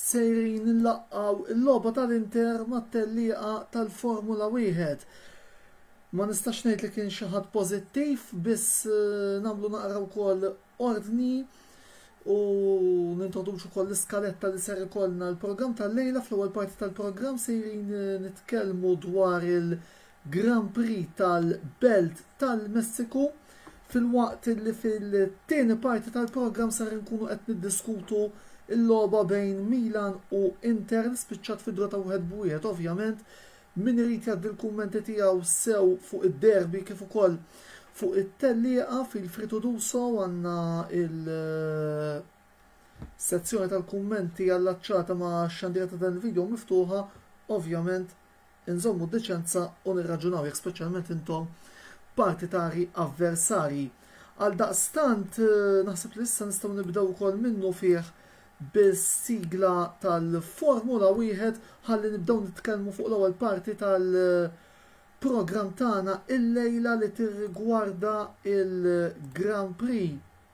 Sejrin inlaqqgħu l-logħba tal-Inter mat-tellieqa tal-Formula Wieħed. Ma nistax ngħid li kien xi ħadd pożittiv, biss nagħmlu naqra wkoll ordni u nintroduċu wkoll l-iskaletta li ser ikollna l-programm tal-lejla fl-ewwel parti tal-programm sejrin nitkellmu dwar il- Grand Prix tal-Belt tal-Messiku, filwaqt li fil-tieni parti tal-programm ser inkunu qed niddiskutu l-logħba bejn Milan u Inter li spiċċat fi draw ta' wieħed b'wieħed. Ovvjament, min irid jgħaddi l-kummenti tiegħu sew fuq id-derby kif ukoll fuq it-tellieqa feel free to do so għandna il sezzjoni tal-kummenti allaċċata ma' xandira ta' dan il-video miftuħa, ovvjament Inżommu d-deċenza u nirraġunaw jekk speċjalment intom partitari avversarji. Għaldaqstant, naħseb li issa nistgħu nibdew ukoll minnufih bis-sigla tal-Formula Wieħed ħalli nibdew nitkellmu fuq l-ewwel parti tal-programm tagħna illejla li tirrigwarda l-Grand Prix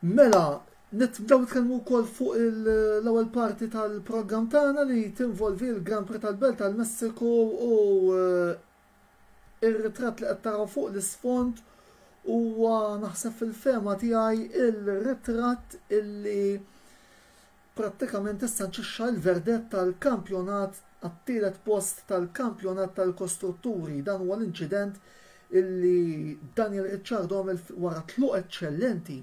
Mela, nibdew nitkellmu wkoll fuq l-ewwel parti tal-programm tagħna li tinvolvi l-Grand Prix tal-Belt tal-Messiku u eh, Ir-ritratt li qed taraw fuq l-isfond huwa naħseb fil-fehma tiegħi r-ritratt illi prattikament issanċixxa l-verdett tal-kampjonat għat-tielet post tal-kampjonat tal-kostrutturi. Dan huwa l-inċident illi Daniel Ricciardo għamel wara tluq eċċellenti.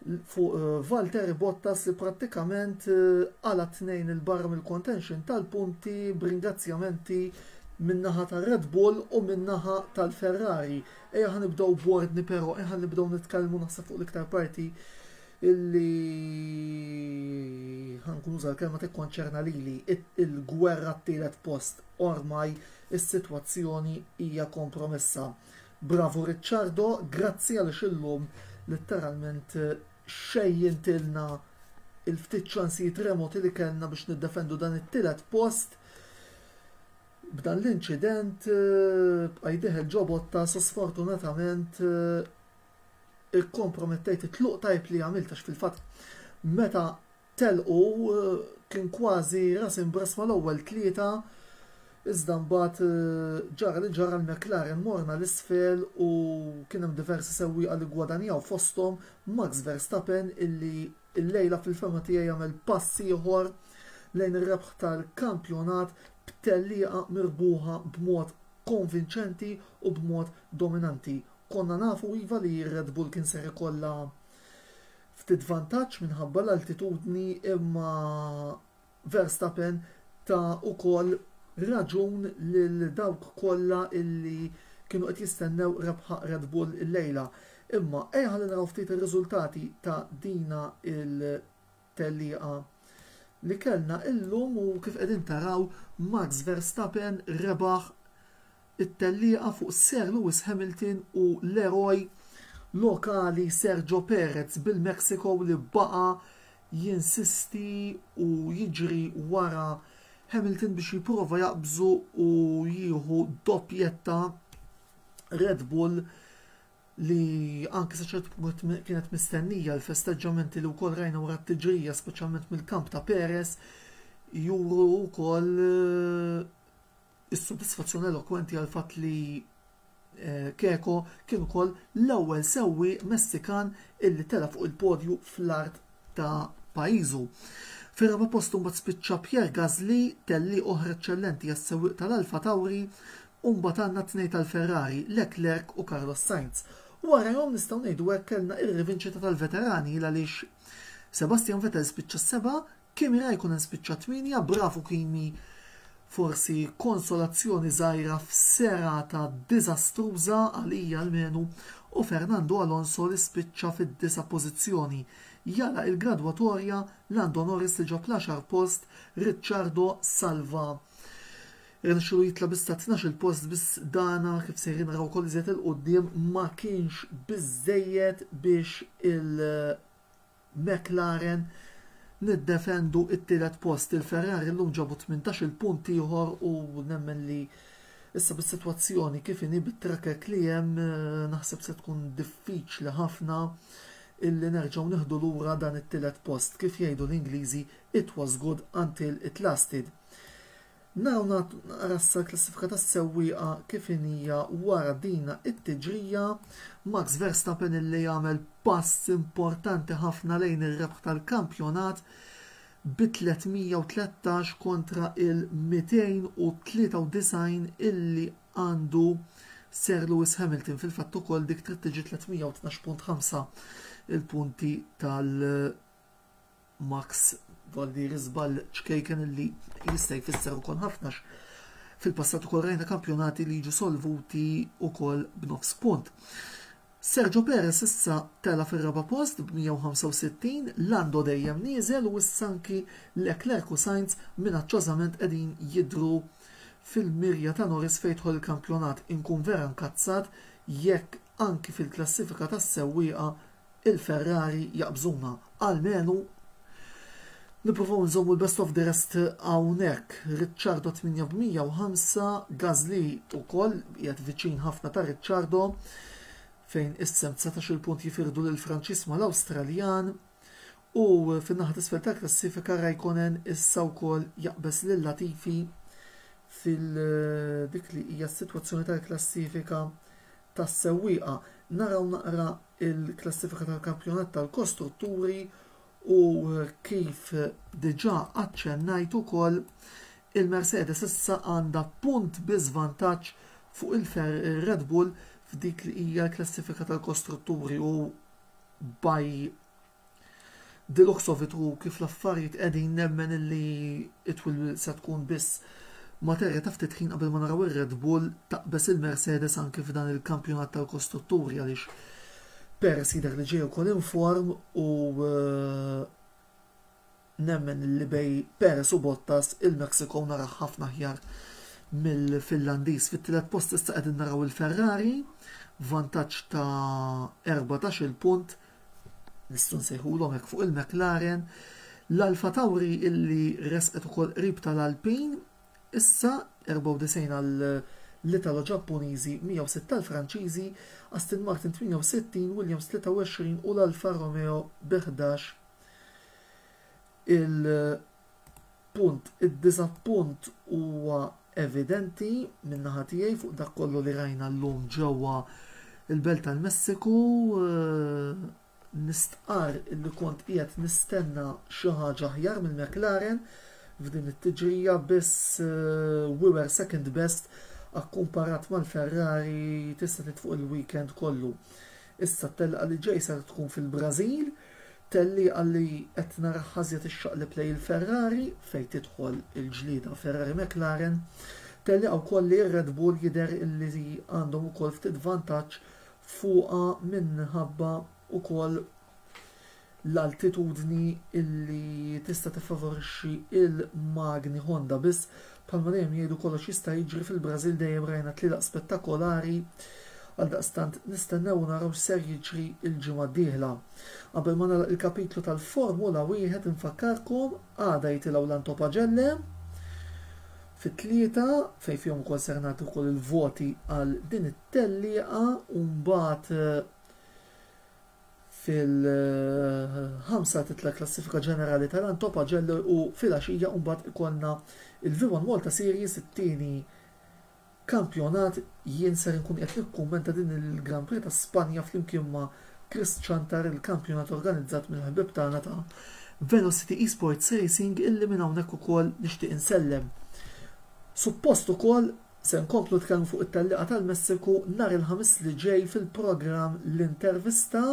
fuq eh, Valtteri Bottas li prattikament għala eh, tnejn il-barra mill-contention tal-punti b'ringrazzjamenti minnaħa ta' Red Bull u minnaħa tal-Ferrari. Eja ħan nibdow bordni pero, eja ħan nibdow nitkellmu naħseb fuq l-iktar parti illi ħankun użal kelma tikkonċerna lili il-gwerra t-tielet post ormaj is-sitwazzjoni hija kompromessa. Bravu Ricciardo, grazzi għaliex illum litteralment xejjintilna il-ftit ċansijiet remoti li kellna biex niddefendu dan it-tielet post b'dan l-inċident b'qa' jdieħel ġo Bottas u sfortunatament ikkompromettejt it-tluq tajb li għamilt għax fil-fatt meta Telqu, kien kważi ras imbrass mal-ewwel tlieta iżda mbagħad ġara li ġara l-McLaren morna 'l isfel u kien hemm diversi sewwieqa li ggwadanjaw fosthom Max Verstappen illi llejla fil-fehma tiegħi għamel pass ieħor lejn ir-rebħ tal-kampjonat b'tellieqa mirbuħa b'mod konvinċenti u b'mod dominanti. Konna nafu iva li r-Red Bull kien ser ikollha Ftit vantaġġ minħabba l-altitudni imma Verstappen ta ukoll raġun lil dawk kollha illi kienu qed jistennew rebħa Red Bull illejla. Imma ejja ħalli naraw ftit ir-riżultati ta dina il tellieqa li kellna illum u kif qegħdin taraw Max Verstappen rebaħ it-tellieqa fuq Sir Lewis Hamilton u l-eroj lokali Sergio Perez bil-Mexico li baqa' jinsisti u jiġri wara Hamilton biex jipprova jaqbżu u jieħu doppjetta Red Bull li anki sa ċertu punt kienet mistennija l-festeġġamenti li wkoll rajna wara t-tiġrija speċjalment mill-kamp ta' Perez juru wkoll is-sodisfazzjon elokwenti għall-fatt li Keko kien ukoll l-ewwel sewwieq Messikan illi tela' fuq il-podju fl-art ta' pajjiżu. Fir-raba' post imbagħad spiċċa Pierre Gasly, tellieq oħra eċċellenti għas-sewwieq tal-Alpha Tauri, u mbagħad għandna t-tnejn tal-Ferrari, Leclerc u Carlos Sainz. Warajhom nistgħu ngħidu hekk kellna r-rivinċita tal-veterani għaliex Sebastian Vettel spiċċa s-seba', Kimi ra jkun hemm spiċċa tmienja, bravu Kimi forsi konsolazzjoni żgħira f'serata diżastruża, għalija almenu, u Fernando Alonso li spiċċa fid-disa' pożizzjoni, jagħlaq il-gradwatorja, Lando Norris li ġab l-għaxar post, Ricciardo salva irnexxielu jitla' biss ta' tnax-il post biss dana, kif sejrin naraw ukoll iżjed 'il quddiem, ma kienx biżżejjed biex il McLaren niddefendu t-tielet post. Il-Ferrari llum ġabu tmintax-il punt ieħor u nemmen li issa bis-sitwazzjoni kif inhi bit-trakek li hemm naħseb se tkun diffiċli ħafna illi nerġgħu nieħdu lura dan it-tielet post. Kif jgħidu l-Ingliżi, it was good until it lasted. Naraw nagħtu naqra issa l-klassifika tas-sewwieqa kif inhija wara dina t-tiġrija. Max Verstappen illi jagħmel pass importanti ħafna lejn ir-rebħ tal-kampjonat bi 313 kontra il-293 illi għandu Sir Lewis Hamilton fil-fatt ukoll dik trid tiġi 312.5 il-punti tal- Max Vallieri żball ċkejken li jista' jfisser ukoll ħafna għax fil-passat ukoll rajna kampjonati li jiġu solvuti ukoll b'nofs punt. Sergio Perez issa tela fir-raba' post b'165, Lando dejjem nieżel u issa anki Leclerc u Sainz minaċċożament qegħdin jidhru fil-mirja ta' Norris fejn jidħol il-kampjonat. Inkun vera nkazzat jekk Anki fil-klassifika tas-sewwieqa il-Ferrari jaqbżuna, almenu Nippruvaw inżommu l-best of the rest hawnhekk. Ricciardo 8 b' 105, Gasly ukoll qiegħed viċin ħafna ta' Ricciardo fejn issem 19-il punt jifirdu lil Franċis mal-Awstraljan. U fin-naħa t'isfel tal-klassifika Raikkonen issa wkoll jaqbeż lil Latifi fil dik li hija s-sitwazzjoni tal-klassifika tas-sewwieqa. Naraw naqra l-klassifika tal-kampjonat tal-kostrutturi u kif diġà aċċennajt ukoll il-Mercedes issa għandha punt biss vantaġġ fuq il-Red Bull f'dik li hija l-klassifika tal-kostrutturi u by the looks of it u kif l-affarijiet qegħdin nemmen illi it will se tkun biss materja ta' ftit ħin qabel ma naraw ir-Red Bull taqbeż il-Mercedes anki f'dan il-kampjonat tal-kostrutturi għaliex Perez jidher li ġej ukoll inform u Nemmen li bejn Perez u Bottas il-Mexico naraha ħafna aħjar mill-Finlandiż. Fit-tielet post issa qegħdin naraw il-Ferrari b'vantaġġ ta' erbatax-il punt, nistgħu nsejħulhom hekk fuq il-McLaren. L-Alfa Tauri illi resqet ukoll qrib tal-Alpin issa 94 għal l-Italo Ġappuniżi, 106 għal Franċiżi, Aston Martin 68, Williams 23 u l-Alfa Romeo bi 11 Il-punt, id-diżappunt huwa evidenti min-naħa tiegħi fuq dak kollu li rajna llum ġewwa l-Belt tal-Messiku. Nistqarr illi kont qiegħed nistenna xi ħaġa aħjar mill-McLaren f'din it-tiġrija biss we were second best akkumparat mal-Ferrari tista' tgħid fuq il-weekend kollu. Issa t-telqa li ġej ser tkun fil-Brażil, tellieqa li qed naraha żjed ixxaqleb lejn il-Ferrari fejn tidħol il-ġlieda Ferrari-McLaren. Tellieqa wkoll li r-Red Bull jidher li għandhom ukoll ftit vantaġġ fuqha minħabba wkoll l-altitudni li tista' tiffavorixxi l-magni Honda biss bħalma dejjem jgħidu kollox jista' jiġri fil-Brażil dejjem rajna tlielaq spettakolari għaldaqstant nistennew u naraw x'ser jiġri l-ġimgħa d-dieħla. Qabel ma nagħlaq il-kapitlu tal-Formula Wieħed infakkarkom għada jitilgħu l-Antopagelle fit-tlieta fejn fihom ukoll ser nagħti wkoll il-voti għal din it-tellieqa u mbagħad fil-ħamsa titla' l-klassifika ġenerali ta' Lanto Pagello u filgħaxija mbagħad ikollna l-Vivon Malta Series it-tieni kampjonat jien ser inkun qiegħed nikkummenta din il-Grand Prix ta' Spanja flimkien ma' Chris Ciantar il-kampjonat organizzat mill-ħbieb tagħna ta' Velocity Esports Racing illi minn hawnhekk ukoll nixtieq insellem suppost ukoll Se nkomplu nitkellmu fuq it-tellieqa tal-Messiku nhar il-Ħamis li ġej fil-programm L-Intervista.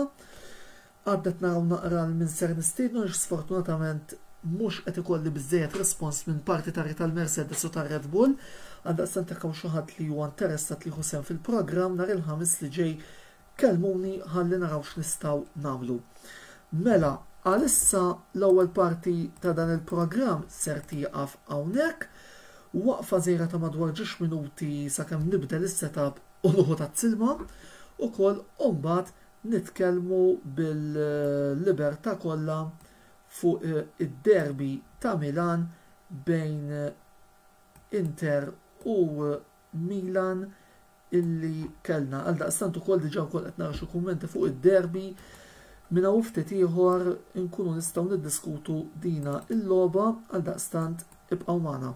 Għad qed naraw naqra 'l min ser nistiednu għax sfortunatament mhux qed ikolli biżżejjed rispons minn partitarji tal-Mercedes u tar-Red Bull. Għaldaqstant jekk hawn xi ħadd li huwa interessat li jieħu sehem fil-programm nhar il-Ħamis li ġej Kellmuni ħalli naraw x'nistgħu nagħmlu. Mela, għalissa l-ewwel parti ta' dan il-programm ser tieqaf hawnhekk. Waqfa żgħira ta' madwar ġiex minuti sakemm nibdel is-setup u nieħu tazz-ilma ukoll u mbagħad nitkellmu bil-libertà kollha fuq id-derby ta' Milan bejn Inter u Milan illi kellna. Għaldaqstant ukoll diġà wkoll qed nara xi kummenti fuq id-derby. Minn hawn ftit ieħor inkunu nistgħu niddiskutu dina il-logħba għaldaqstant ibqgħu magħna.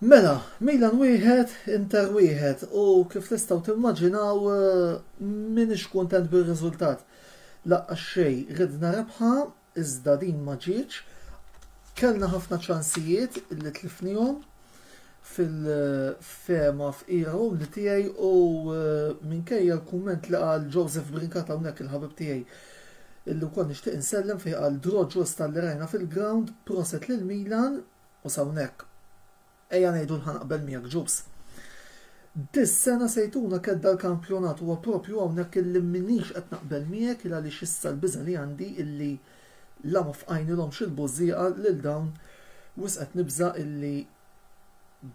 Mela, Milan wieħed, Inter wieħed u kif tistgħu timmaġinaw eh, minix kuntent bir-riżultat. Laqqa xej, ridna rebħa iżda din ma ġietx. Kellna ħafna ċansijiet li tlifnihom fil-fehma fqira umli tiegħi u minkejja l-kumment li qal Joseph Brincat hawnhekk il-ħabib tiegħi illi wkoll nixtieq insellem fejn qal draw ġusta li rajna fil-ground, proset lil Milan u s'hawnhekk. Ejja ngħidu li ħa naqbel miegħek Ġus. Dis-sena se jtuna kedda l-kampjonat huwa proprju hawnhekk illi m'iniex qed naqbel miegħek il għaliex issa l-biża' li għandi illi la ma fqajnilhomx il-bużżieqa lil dawn wisq qed nibża' illi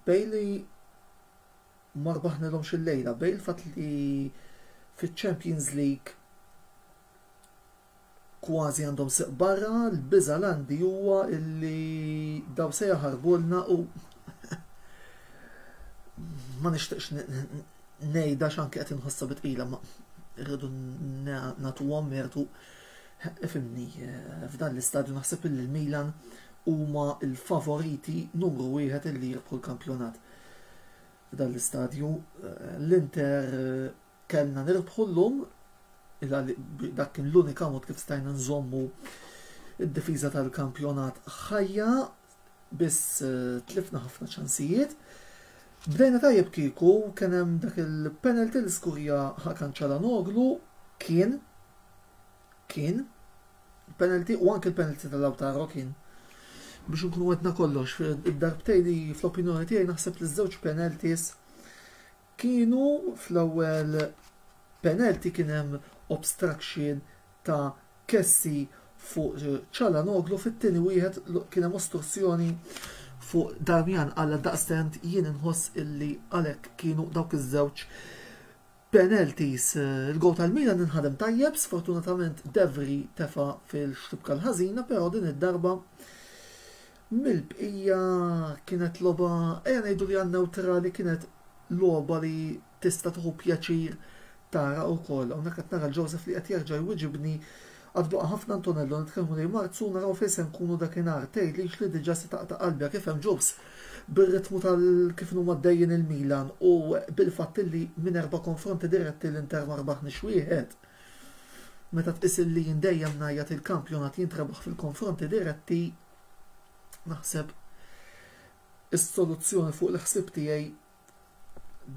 Bailey ma rbaħnilhomx illejla bejn il-fatt li fiċ-Champions League Kważi għandhom sieq barra, l-biża' l-għandi huwa illi daw se jaħarbulna u ma nixtieqx ngħidha x'anke qed inħossha bi tqila ma rridu nagħtuhom mertu ifimni eh, f'dan l-istadju naħseb illi l-Milan huma l-favoriti numru wieħed illi jirbħu l-kampjonat. F'dan l-istadju eh, l-Inter eh, Kellna nirbħu llum, dak kien l-unika mod kif stajna nżommu d-difiża tal-kampjonat ħajja, biss tlifna ħafna ċansijiet. Bdejna tajjeb kieku kien hemm dak il-penalty li skurja Hakan Calhanoglu, kien, kien, penalty u anke l-penalty ta' Lautaro kien. Biex nkunu għedna kollox, id-darbtej li fl-opinjoni tiegħi naħseb li ż-żewġ penalties Kienu fl-ewwel penalty kien hemm obstruction ta' Kessie fuq Calhanoglu, fit-tieni wieħed kien hemm ostruzzjoni fuq Darmian għaldaqstant jien inħoss illi għalhekk kienu dawk iż-żewġ penalties. Il-goal tal-Milan inħadem tajjeb, sfortunatament Devry tefa' fil-xtibka l-ħażina però din id-darba Mill-bqija kienet logħba, ejja ngħidu li għan-newtrali kienet logħba li tista' tieħu pjaċir tara wkoll. Hawnhekk qed nara l-Joseph li qed jerġa' jwiġibni, Għad baqa' ħafna Antonello nitkellmu lejn Marzu u naraw fejn se nkunu dakinhar. Tgħidlix li diġà se taqta' qalbi għak ifhem Jose, bir-ritmu ta' kif inhuma għaddejjin il-Milan u bil-fatt li minn erba' konfronti diretti l-Inter ma rbaħniex wieħed. Meta tqis li jien dejjem ngħajjat li l-kampjonat jintrebaħ fil-konfronti diretti, Naħseb is-soluzzjoni fuq il-ħsieb tiegħi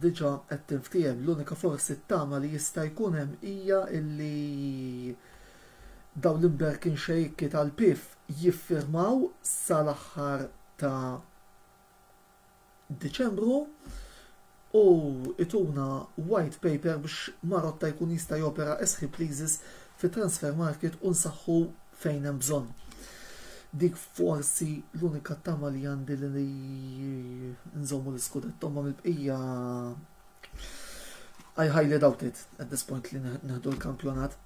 diġà qed tinftiehem. L-unika forsi t-tama li jista' jkun hemm hija li dawn l-imberkin xejki tal-PIF jiffirmaw sal-aħħar ta' Diċembru u ituna white paper biex Marotta jkun jista' jopera as he pleases fit-transfer market u nsaħħu fejn hemm bżonn. Dik forsi l-unika tama li għandi li nżommu l-iskudetto imma mill-bqija I highly doubt it at this point li nieħdu l-kampjonat.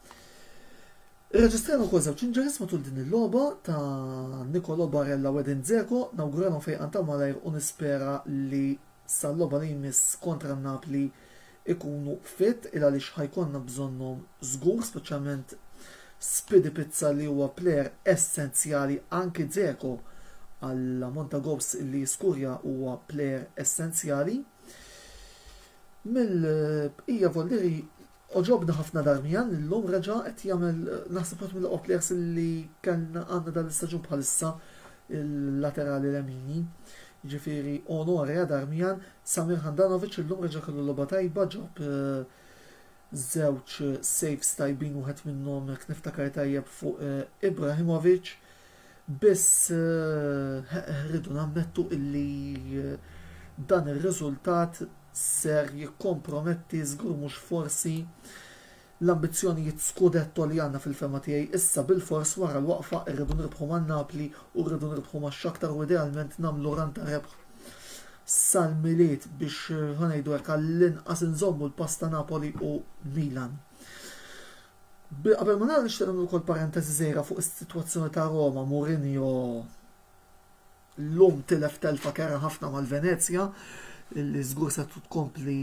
Irreġistrajna wkoll żewġ injuries matul din il-logħba ta' Nicolo Barella u Edin Dzeko, nawguralhom fejqan ta' malajr u nispera li sal-logħba li jmiss kontra n-Napli jkunu fit il għaliex ħa jkollna bżonnhom żgur speċjalment Spidi Pizza li huwa player essenzjali anki Dzeko għall-ammont ta' goals li jiskurja huwa player essenzjali mill-bqija volli Għoġobni ħafna Darmian li llum reġa' qed jagħmel naħseb wieħed mill-oqgħod players li kellna għandna dan l-istaġun bħalissa il-laterali lemini. Jiġifieri onore għal Darmian. Samir Handanovic illum reġa' kellu logħba tajba ġab żewġ saves tajbin wieħed minnhom jekk niftakar tajjeb fuq Ibrahimovic. Biss rridu nammettu illi dan ir-riżultat ser jikkomprometti, żgur mhux forsi, l-ambizzjonijiet scudetto li għandna fil-fehma tiegħi. Issa bilfors wara l-waqfa rridu nirbħu ma' Napli u rridu nirbħu ma' Shakhtar u idealment nagħmlu run ta' rebħ sal-Milied biex, ħa ngħidu hekk, għallinqas inżommu l-pass ta' Napoli u Milan. Bil qabel ma nagħlaq nixtieq nagħmel ukoll parenteżi żgħira fuq is-sitwazzjoni ta' Roma, Mourinho llum tilef telfa kerha ħafna mal-Venezja li żgur se tkompli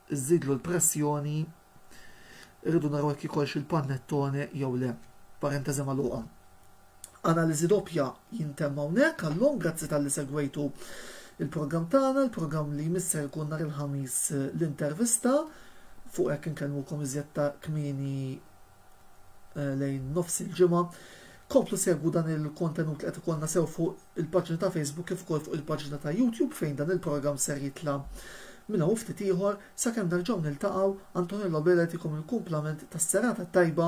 żżidlu l-pressjoni irridu naraw jekk ikolx il-panettone jew le. Parenteżi magħluqa. Analiżi Doppja jintemm hawnhekk għallum, grazzi talli segwejtu l-programm tagħna, il-programm li jmiss ser ikun nhar il-Ħamis l-intervista, fuq hekk inkellmukom iżjed ta' kmieni lejn nofs il-ġimgħa. Komplu segwu dan il-kontenut li qed ikollna sew fuq il-paġna ta' Facebook kif ukoll fuq il-paġna ta' YouTube fejn dan il-programm ser jitla' minn hawn ftit ieħor sakemm nerġgħu niltaqgħu Antonello Bela jtikom il-kumplament tas-serata t-tajba